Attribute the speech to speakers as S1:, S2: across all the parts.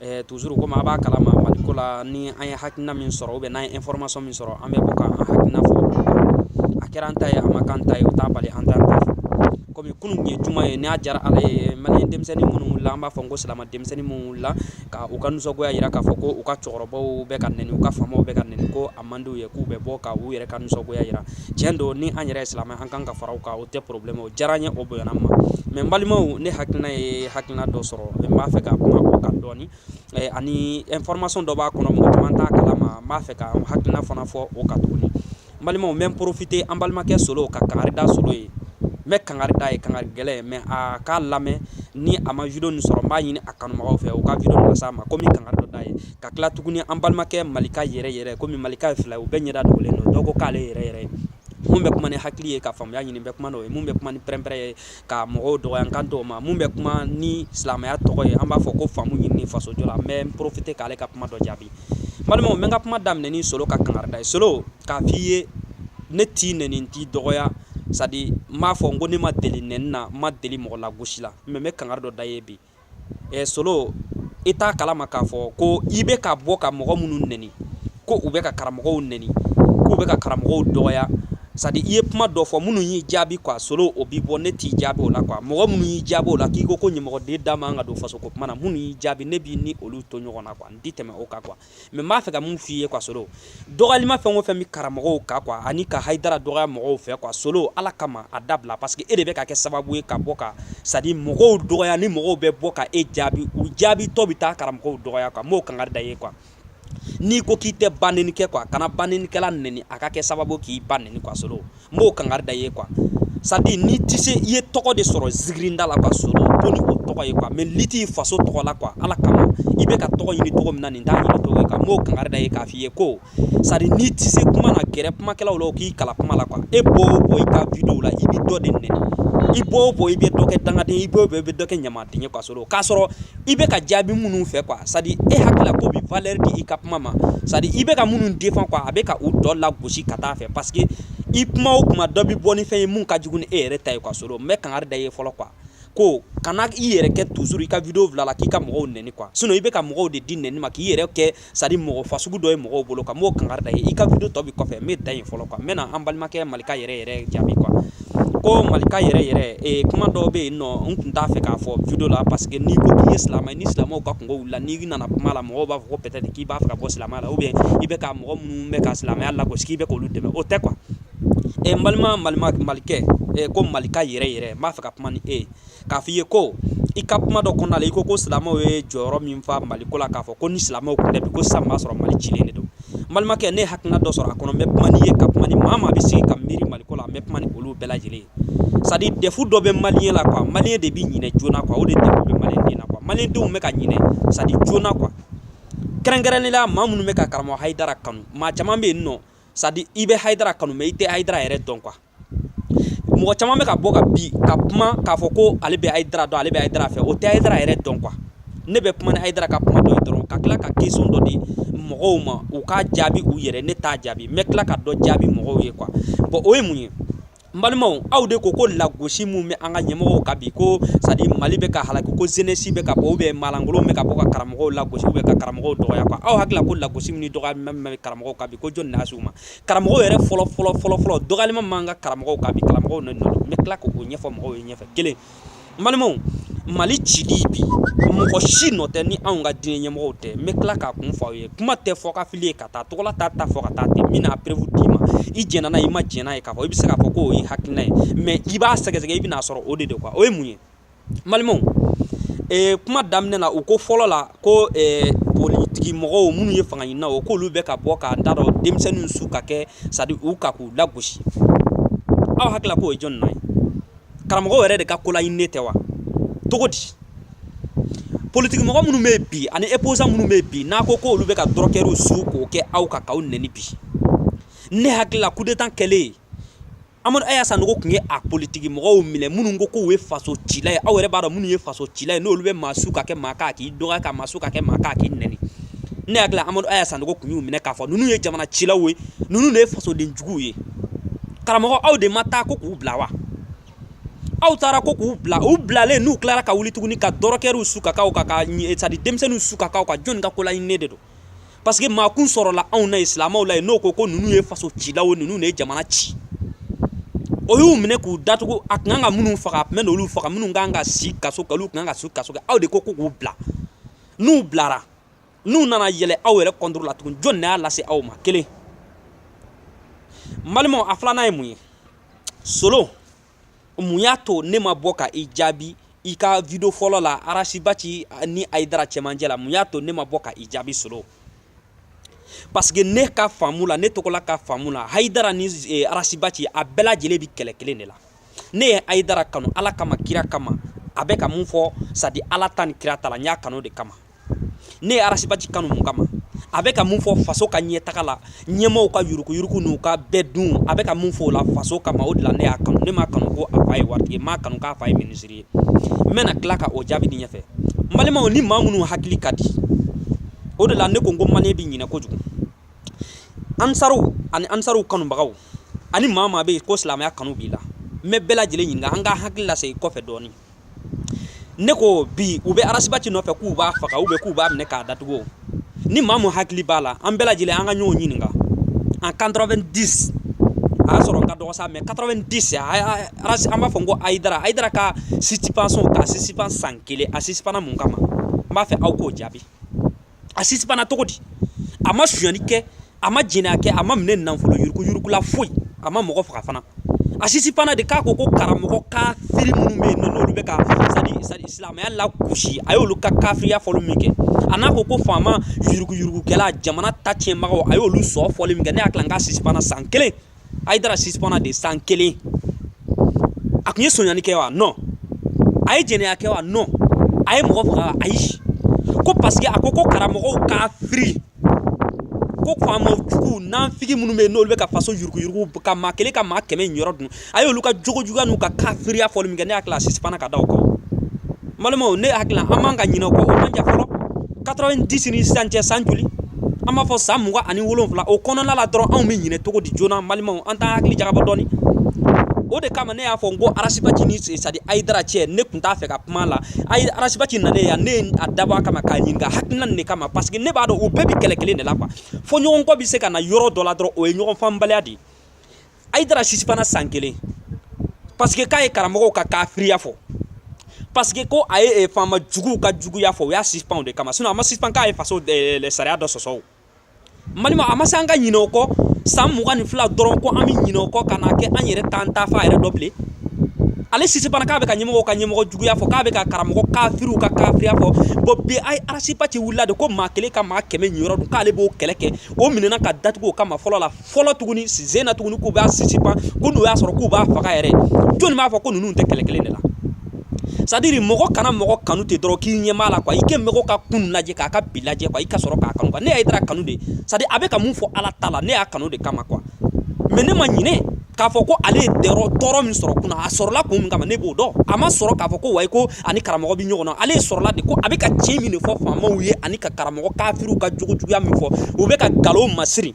S1: Ɛɛ toujours kɔmi a b'a kalama maliko la ni an ye hakilina min sɔrɔ ou bien n'an ye information min sɔrɔ an bɛ bɔ k'an hakilina fɔ a kɛra an ta ye a ma kɛ an ta ye o t'a bali an ta ta kɔmi kunun tun ye juma ye n'a diyara Ala ye malien denmisɛnnin minnu wulila an b'a fɔ ko silamɛ denmisɛnnin minnu wulila k' u ka nisɔngoya jira k'a fɔ ko u ka cɛkɔrɔbaw bɛ ka nɛni u ka faamaw bɛ ka nɛni ko man d'u ye k'u bɛ bɔ ka u yɛrɛ ka nisɔngoya jira tiɲɛ don ni an yɛrɛ ye silamɛ an kan ka fara u kan o tɛ problème ye o diyara n ye o bonyana n ma mais n balimaw ne hakilina ye hakilina dɔ sɔrɔ n b'a fɛ ka kuma o kan dɔɔni ani information dɔ b'a kɔnɔ mɔgɔ caman t'a kalama n b'a fɛ ka n hakilina fana fɔ o kan tuguni n balimaw n bɛ n profiter an balimakɛ Solo ka kangari da Solo ye n bɛ kangari d'a ye kangari gɛlɛn mais a k'a lamɛn ni a ma video nin sɔrɔ n b'a ɲini a kanubagaw fɛ u ka video nin las'a ma komi kangari dɔ d'a ye ka tila tuguni an balimakɛ malika yɛrɛ yɛrɛ komi malika ye fila u bɛɛ ɲɛda dogolen don dɔw ko k'ale yɛrɛ yɛrɛ ye mun bɛ kuma ni hakili ye ka faamuya ɲini bɛ kuma n'o ye mun bɛ kuma ni pɛrɛnpɛrɛn ye ka mɔgɔw dɔgɔya n kan t'o ma mun bɛ kuma ni silamɛya tɔgɔ ye an b'a fɔ ko faamu ɲini faso jɔ la n bɛ profiter k'ale ka kuma dɔ jaabi balimaw mais n ka kuma daminɛ ni solo ka kangarida ye solo k'a f'i ye ne t'i nɛni n t'i dɔgɔya sadi n b'a fɔ n ko ne ma deli nɛni na n ma deli mɔgɔ lagosi la mais n bɛ kangari dɔ da ye bi ɛ solo i t'a kalama k'a fɔ ko i bɛ ka bɔ ka mɔgɔ minnu neni ko u bɛ ka karamɔgɔw neni k'u bɛ ka karamɔgɔw dɔgɔya sadi i ye kuma dɔ fɔ minnu y'i jaabi quoi solo o b'i bɔ ne t'i jaabi o la quoi mɔgɔ minnu y'i jaabi o la k'i ko ko ɲɛmɔgɔden da man ka don fasoko kuma na minnu y'i jaabi ne b'i ni olu to ɲɔgɔn na quoi n tɛ tɛmɛ o kan quoi mais n b'a fɛ ka mun f' i ye quoi solo dɔgɔyalima fɛn o fɛn bɛ karamɔgɔw kan quoi ani ka haidara dɔgɔya mɔgɔw fɛ quoi solo ala kama a dabila parce que e de bɛ ka kɛ sababu ye ka bɔ ka sadi mɔgɔw dɔgɔya ni mɔgɔw bɛ bɔ ka e jaabi u jaabitɔ bɛ taa karamɔgɔw dɔgɔya quoi n b'o kangari da ye quoi n'i ko k'i tɛ banɛni kɛ quoi kana banɛnikɛla nɛni a ka kɛ sababu k'i ba nɛni quoi solo n b'o kangari da ye quoi sadi n'i tɛ se i ye tɔgɔ de sɔrɔ zigirinda la quoi solo to ni o tɔgɔ ye quoi mais liti faso tɔgɔ la quoi ala kama i bɛ ka tɔgɔ ɲini cogo min na nin t'a ɲini cogo ye quoi n b'o kangari da ye k'a f'i ye ko sadi n'i tɛ se kuma na gɛrɛ kumakɛlaw la u k'i kalan kuma la quoi e bɔ o bɔ i ka video la i bɛ dɔ de nɛni i bɔ o bɔ i bɛ dɔ kɛ dangaden i bɔ o bɔ i bɛ dɔ kɛ ɲamaden ye quoi solo k'a sɔrɔ i bɛ ka jaabi minnu fɛ quoi sadi e hakili la k'o bɛ valeur di i ka kuma ma sadi i bɛ ka minnu défendre quoi a bɛ ka u dɔ lagosi ka taa fɛ parce que i kuma o kuma dɔ bɛ bɔ ni fɛn ye min ka jugu ni e yɛrɛ ta ye quoi solo n bɛ kangari da ye fɔlɔ quoi ko kana i yɛrɛ kɛ toujours i ka video fili la k'i ka mɔgɔw nɛni quoi sinon i bɛ ka mɔgɔw de di nɛni ma k'i yɛrɛ kɛ sadi mɔgɔ fasugu dɔ ye mɔgɔw bolo quoi n b'o kangari da ye i ka video tɔ bɛ kɔfɛ n bɛ da in fɔlɔ quoi n bɛ na an balimakɛ malika yɛrɛ yɛrɛ jaabi quoi ko malika yɛrɛ yɛrɛ kuma dɔw bɛ yen nɔ n tun t'a fɛ k'a fɔ video la parce que n'i ko k'i ye silamɛ ni silamɛw ka kunko la n'i nana kuma la mɔgɔ b'a fɔ peut-être k'i b'a fɛ ka bɔ silamɛ la ou bien i bɛ ka mɔgɔ minnu bɛ ka silamɛya lagosi k'i bɛ k'olu dɛmɛ o tɛ quoi balima malikɛ ko malika yɛrɛ yɛrɛ n b'a fɛ ka kuma ni e k'a fɔ i ye ko i ka kuma dɔ kɔnɔna la i ko ko silamɛw ye jɔyɔrɔ min fa Mali ko la k'a fɔ ko ni silamɛw tun tɛ bi ko sisan b'a sɔrɔ Mali cilen de don n balimakɛ ne ye hakilina dɔ sɔrɔ a kɔnɔ n bɛ kuma n'i ye ka kuma ni maa maa bɛ sigi ka miiri Mali ko la n bɛ kuma ni olu bɛɛ lajɛlen ye c'est à dire defu dɔ bɛ maliyɛn la quoi maliyɛn de bɛ ɲinɛ joona quoi o de defu bɛ maliyɛn den na quoi maliyɛndenw bɛ ka ɲinɛ c'est à dire joona quoi kɛrɛnkɛrɛnnenya la maa minnu bɛ ka karamɔgɔ Hayidara kanu maa caman bɛ yen nɔ c'est à dire i bɛ Hayidara kanu mais i tɛ Hayidara yɛrɛ dɔn quoi mɔgɔ caman bɛ ka bɔ ka bi ka kuma k'a fɔ ko ale bɛ Hayidara dɔn ale bɛ Hayidara fɛ o tɛ Hayidara yɛrɛ dɔn quoi ne bɛ kuma ni Hayidara ka kuma dɔ ye dɔrɔn ka tila ka question dɔ di mɔgɔw ma u k'a jaabi u yɛrɛ ne t'a jaabi n bɛ tila ka dɔ jaabi mɔgɔw ye quoi bon o ye mun ye n balimaw aw de ko ko lagosi min bɛ an ka ɲɛmɔgɔw kan bi ko c'est à dire Mali bɛ ka halaki ko jeunesse bɛ ka bɔ ou bien maalankolon bɛ ka bɔ ka karamɔgɔw lagosi ou bien ka karamɔgɔw dɔgɔya quoi aw hakili la ko lagosi min ni dɔgɔyali min bɛ karamɔgɔw kan bi ko jɔni de y'a se u ma karamɔgɔ yɛrɛ fɔlɔ fɔlɔ fɔlɔ fɔlɔ dɔgɔyali min b'an ka karamɔgɔw kan bi karamɔgɔ nɔ n bɛ tila k'o ɲɛfɔ mɔgɔw ye ɲɛfɛ kelen balimaw mali cili bi mɔgɔ si nɔ tɛ ni anw ka diinɛ ɲɛmɔgɔw tɛ n bɛ tila k'a kun fɔ aw ye kuma tɛ fɔkafili ye ka taa tɔgɔla ta ta fɔ ka taa ten n bɛna preuve d'i ma i jɛnna n'a i ma jɛn n'a ye k'a fɔ i bɛ se k'a fɔ ko o ye hakilina ye mais i b'a sɛgɛsɛgɛ i bɛn'a sɔrɔ o de de quoi o ye mun ye balimaw ee kuma daminɛ na u ko fɔlɔ la ko ɛɛ politigi mɔgɔw minnu ye fanga ɲininaw k'olu bɛ ka bɔ k'a da dɔ denmisɛnnin su ka kɛ sadi u kan k'u lagosi aw hakili la k'o ye jɔn nɔ ye karamɔgɔ yɛrɛ de ka kolaɲininen tɛ wa cogo di politigi mɔgɔ minnu bɛ bi ani opposant minnu bɛ bi n'a ko ko olu bɛ ka dɔrɔkɛriw su k'u kɛ aw kan k'aw nɛni bi ne hakili la coup d'état kɛlen Amadu Aya Sanogo tun ye a politiki mɔgɔw minɛ minnu ko k'u ye faso cila ye aw yɛrɛ b'a dɔn minnu ye faso cila ye n'olu bɛ maa su ka kɛ maa kan a k'i dɔgɔya ka maa su ka kɛ maa kan a k'i nɛni ne hakili la Amadu Aya Sanogo tun y'u minɛ k'a fɔ ninnu ye jamana cilaw ye ninnu de ye fasoden juguw ye karamɔgɔ aw de ma taa ko k'u bila wa aw taara ko k'u bila u bilalen n'u tilara ka wuli tuguni ka dɔrɔkɛriw su ka k'aw kan ka sadi denmisɛnninw su ka k'aw kan jɔni ka kolaɲininen de don parce que maa kun sɔrɔla anw na yen silamɛw la yen n'o ko ko ninnu ye faso cilaw ye ninnu de ye jamana ci o y'u minɛ k'u datugu a tun kan ka minnu faga a tun bɛn'olu faga minnu kan ka si kaso kɛ olu tun kan ka si kaso kɛ aw de ko ko k'u bila n'u bilara n'u nana yɛlɛ aw yɛrɛ contre la tugun jɔni de y'a lase aw ma kelen n balimaw a filanan ye mun ye solo mun y'a to ne ma bɔ ka i jaabi i ka video fɔlɔ la Arasibaci ni Hayidara cɛmancɛ la mun y'a to ne ma bɔ ka i jaabi solo parce que ne ka faamu la ne tɔgɔla ka faamu la hayidara ni eh, Arasibaci a bɛɛ lajɛlen bi kɛlɛ kelen de la ne ye Hayidara kanu ala kama kira kama a bɛ ka mun fɔ sadi ala ta ni kira ta la n y'a kanu de kama ne ye arasibaci kanu mun kama a bɛ ka mun fɔ faso ka ɲɛtaga la ɲɛmɔgɔw ka yurukuyuruku n'u ka bɛɛ dun a bɛ ka mun fɔ o la faso kama o de la ne y'a kanu ne m'a kanu ko a fa ye waritigi m'a kanu k'a fa ye minisiri ye n bɛna tila ka o jaabi di ɲɛfɛ n balimaw ni maa minnu hakili ka di o de la ne ko n ko maliyɛn bɛ ɲinɛ kojugu ansaruw ani ansaruw kanubagaw ani maa maa bɛ yen ko silamɛya kanu b'i la n bɛ bɛɛ lajɛlen ɲininka an ka hakili lasegin kɔfɛ dɔɔnin ne ko bi u bɛ arasibaci nɔfɛ k'u b'a faga ou bien k'u b'a minɛ k'a datugu ni maa mun hakili b'a la an bɛɛ lajɛlen an ka ɲɔgɔn ɲininka en 90 a y'a sɔrɔ n ka dɔgɔ sa mais 90 an b'a fɔ n ko ayidara ka suspension k'a sisipan san kelen a sisipana mun kama n b'a fɛ aw k'o jaabi a sisipana cogo di a ma sonyani kɛ a ma jɛnɛya kɛ a ma minɛ nafolo yurukuyuruku la foyi a ma mɔgɔ faga fana a sisipana de k'a ko ko karamɔgɔ kafiri minnu bɛ yen n'olu bɛ ka c'est-à-dire c'est-à-dire silamɛya lagosi a y'olu ka kafiriya fɔli min kɛ a n'a ko ko faama yurukuyurukukɛla jamana ta tiɲɛbagaw a y'olu sɔn fɔli min kɛ ne hakili la n k'a sisipana san kelen ayidara sisipana de san kelen a kun ye sonyani kɛ wa non a ye jɛnɛya kɛ wa non a ye mɔgɔ faga ayi ko parce que a ko ko karamɔgɔw kafiri ko faama jugu nanfigi minnu bɛ yen n'olu bɛ ka faso yuruguyurugu ka maa kelen ka maa kɛmɛ niyɔrɔ dun a y'olu ka jogojuguya n'u ka kafiriya fɔli min kɛ ne hakili la a sisipana ka da o kan balimaw ne hakili la an man ka ɲinɛ o kɔ o man jan fɔlɔ 90 ni sisan cɛ san joli an b'a fɔ san mugan ani wolonwula o kɔnɔna la dɔrɔn anw bɛ ɲinɛ cogo di joona an balimaw an t'an hakili jagabɔ dɔɔni o de kama ne y'a fɔ n ko arasibaci ni c'est-à-dire ayidara cɛ ne tun t'a fɛ ka kuma la ayi arasibaci nalen yan ne ye a dabɔ a kama k'a ɲininka hakilina nin de kama parce que ne b'a dɔn u bɛɛ bɛ kɛlɛ kelen de la quoi fɔɲɔgɔnkɔ bɛ se ka na yɔrɔ dɔ la dɔrɔn o ye ɲɔgɔn faamubaliya de ye ayidara sisipana san kelen parce que k'a ye karamɔgɔw ka kafiriya fɔ parce que ko a ye e faama juguw ka juguya fɔ o y'a sisipan de kama a ma sisipan k'a ye faso sariya dɔ sɔsɔ n balimaw a ma se an ka ɲinɛ o kɔ san mugan ni fila dɔrɔn ko an bɛ ɲinɛ o kɔ ka kɛ an yɛrɛ t'an taafan yɛrɛ dɔn bilen ale sisipana k'a bɛ ka ɲɛmɔgɔw ka ɲɛmɔgɔ juguya fɔ k'a bɛ ka karamɔgɔ kafiriw ka kafiriya fɔ bon bi arasibaci wulila de ko maa kelen ka maa kɛmɛ niyɔrɔ dun k'ale b'o kɛlɛ kɛ o minɛna k'a datugu o kama fɔlɔ la fɔlɔ tuguni sen na tuguni k'u b'a sisipan ko n'u y'a sɔrɔ k'u b'a faga yɛrɛ jɔnni b'a fɔ ko ninnu tɛ kɛlɛ kelen de la c'est-à-dire mɔgɔ kana mɔgɔ kanu ten dɔrɔn k'i ɲɛ b'a la quoi i ka mɔgɔ ka kunun lajɛ k'a ka bi lajɛ quoi i ka sɔrɔ k'a kanu ne ye ayidara kanu de c'est-à-dire a bɛ ka mun fɔ ala ta la ne y'a kanu de kama quoi mais ne ma ɲinɛ k'a fɔ ko ale ye dɛrɔ tɔɔrɔ min sɔrɔ kunun a sɔrɔla kun min kama ne b'o dɔn a ma sɔrɔ k'a fɔ ko wayi ko a ni karamɔgɔ bɛ ɲɔgɔn na ale sɔrɔla de ko a bɛ ka tiɲɛ min de fɔ faamaw ye ani ka karamɔgɔ kafiriw ka jogojuguya min fɔ u bɛ ka nkalon masiri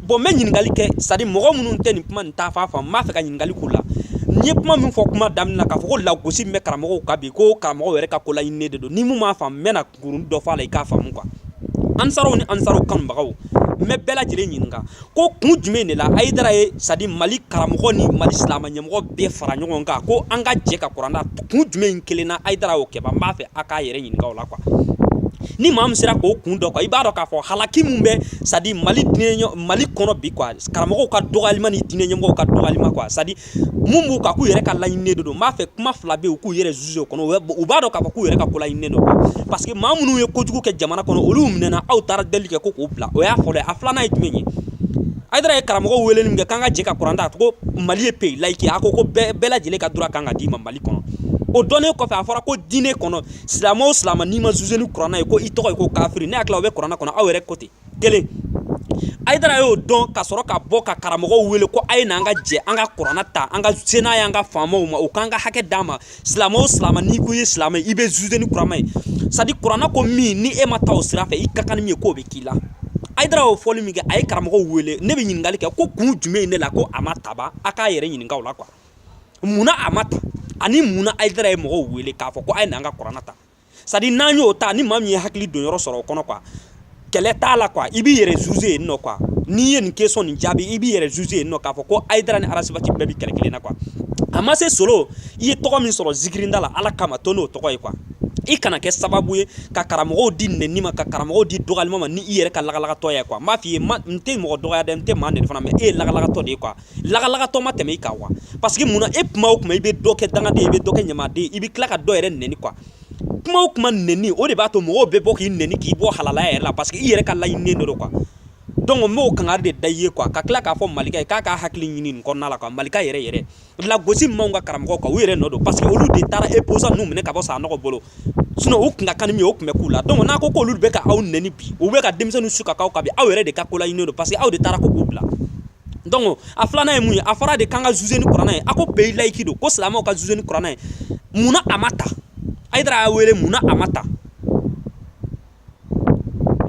S1: bɔn n bɛ ɲininkali kɛ sadi mɔgɔ minnu tɛ nin kuma nin taa fan faamu n b'a fɛ ka ɲininkali k'u la n ye kuma min fɔ kuma daminɛ na k'a fɔ ko lagosi min bɛ karamɔgɔw kan bi ko karamɔgɔw yɛrɛ ka kolaɲininen de don ni min m'a faamu n bɛna kurun dɔ fɔ a la i k'a faamu quoi ansaraw ni ansaraw kanubagaw n bɛ bɛɛ lajɛlen ɲininka ko kun jumɛn de la ayidara ye sadi mali karamɔgɔ ni mali silamɛ ɲɛmɔgɔ bɛɛ fara ɲɔgɔn kan ko an ka jɛ ka kuranna kun jumɛn in kelen na ayidara y'o kɛ n b'a fɛ a k'a yɛrɛ ɲininka o la quoi ni maa min sera k'o kun dɔn i b'a dɔn k'a fɔ halaki min bɛ sadi mali kɔnɔ bi karamɔgɔw ka dɔgɔyalima ni diinɛ ɲɛmɔgɔw ka dɔgɔyalima kuwa sadi min b'u kan k'u yɛrɛ ka laɲininen don n b'a fɛ kuma fila bɛ yen u k'u yɛrɛ zuze o kɔnɔ u b'a dɔn k'a fɔ k'u yɛrɛ ka kolaɲininen don parce que maa minnu ye kojugu kɛ jamana kɔnɔ olu minɛna aw taara deli kɛ ko k'u bila o y'a fɔlɔ ye a filanan ye jumɛn ye Ayidara ye karamɔgɔw wele min kɛ k'an ka jɛ ka kuranɛ ta ko mali ye peyi layiki a ko ko bɛɛ lajɛlen ka droit ka kan ka d'i ma mali kɔnɔ o dɔnnen kɔfɛ a fɔra ko diinɛ kɔnɔ silamɛ o silamɛ n'i ma zuze ni kuranɛ ye ko i tɔgɔ ye ko kafiri ne hakili la o bɛ kuranɛ kɔnɔ aw yɛrɛ ko ten kelen ayidara y'o dɔn ka sɔrɔ ka bɔ ka karamɔgɔw wele ko a ye n'an ka jɛ an ka kuranɛ ta an ka se n'a y'an ka faamaw ma u k'an ka hakɛ d'an ma silamɛ o silamɛ n'i ko i ye silamɛ ye i bɛ zuze ni kurana ye sadi kurana ko min ni e ma taa o sira fɛ i ka kan ni min ye k'o bɛ k'i la ayidara y'o fɔli min kɛ a ye karamɔgɔw wele ne bɛ ɲininkali kɛ ko kun jumɛn in de la ko a ma ta ba a k'a yɛrɛ ɲininka o la kuwa munna a ma ta ani munna ayidara ye mɔgɔw wele k'a fɔ ko a ye n'an ka kurana ta sadi n'an y'o ta ni maa min ye hakili don yɔrɔ sɔrɔ o kɔnɔ quoi kɛlɛ t'a la quoi i b'i yɛrɛ zuze yen nɔ quoi n'i ye nin kesɔn nin jaabi i b'i yɛrɛ zuze yen nɔ k'a fɔ ko ayidara ni arasibati bɛɛ bɛ kɛlɛ kelen na quoi a ma se solo i ye tɔgɔ min sɔrɔ zikirinda la ala kama to n'o tɔgɔ ye quoi i kana kɛ sababu ye ka karamɔgɔw di nɛni ma ka karamɔgɔw di dɔgɔyalima ma ni i yɛrɛ ka lagalagatɔ ye quoi n b'a f'i ye n tɛ mɔgɔ dɔgɔya dɛ n tɛ maa nɛni fana mais e ye lagalagatɔ de ye quoi lagalagatɔ ma tɛmɛ i kan quoi parce que munna e kuma o kuma i bɛ dɔ kɛ dangaden ye i bɛ dɔ kɛ ɲamaden i bɛ tila ka dɔ yɛrɛ nɛni quoi kuma o kuma nɛni o de b'a to mɔgɔw bɛ bɔ k'i nɛni k'i bɔ halalaya yɛrɛ la parce que i yɛrɛ ka laɲininen dɔ don quoi donc n b'o kangari de da i ye quoi ka tila k'a fɔ malika ye k'a k'a hakili ɲini nin kɔnɔna la quoi malika yɛrɛ yɛrɛ lagosi min b'anw ka karamɔgɔw kan u yɛrɛ nɔ don parce que olu de taara opposant ninnu minɛ ka bɔ sanɔgɔ bolo u tun ka kan ni min ye o tun bɛ k'u la donc n'a ko k'olu bɛ ka aw nɛni bi u bɛ ka denmisɛnninw su ka aw kan bi aw yɛrɛ de ka kolaɲininen don parce que aw de taara ko k'u bila donc a filanan ye mun ye a fɔra de k'an ka zuze ni kuranɛ ye a ko peyi layiki don ko silamɛw ka zuze ni kuranɛ ye munna a ma ta ayidara y'aw wele munna a ma ta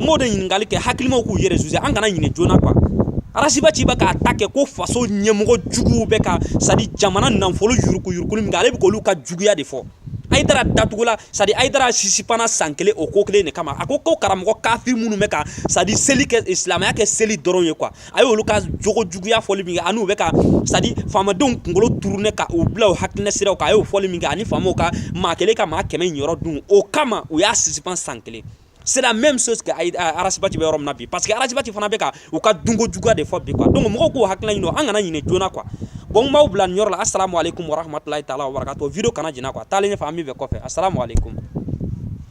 S1: m'o de ɲininkali kɛ hakilimaw k'u yɛrɛ zuze an kana ɲinɛ joona kuwa arasibati bɛ k'a ta kɛ ko faso ɲɛmɔgɔ juguw bɛ ka sadi jamana nafolo yurukuyurukuli min kɛ ale bɛ k'olu ka juguya de fɔ ayidara datugula sadi ayidara sisipana san kelen o ko kelen de kama a ko ko karamɔgɔ kafiri minnu bɛ ka sadi seli kɛ silamɛya kɛ seli dɔrɔn ye kuwa a y' olu ka jogo juguya fɔli min kɛ ani'u bɛ ka c'est-à-dire faamadenw kunkolo tourner ka u bila hakilina sira kan a y'o fɔli min kɛ ani faamaw ka maa kelen ka maa kɛmɛ yɔrɔ dun o kama u y'a suspend san kelen c'est la même chose arasibati bɛ yɔrɔ min na bi parce que arasibati fana bɛ ka u ka dunko juguya de fɔ bi quoi donc mɔgɔw k'u hakili ɲini an kana ɲinɛ joona quoi bon n b'aw bila nin yɔrɔ la assalamu alaikum warahmatulahi taala wabarakatuh vidéo kana janya a taa ɲɛfɛ min bɛ kɔfɛ assalamu alaikum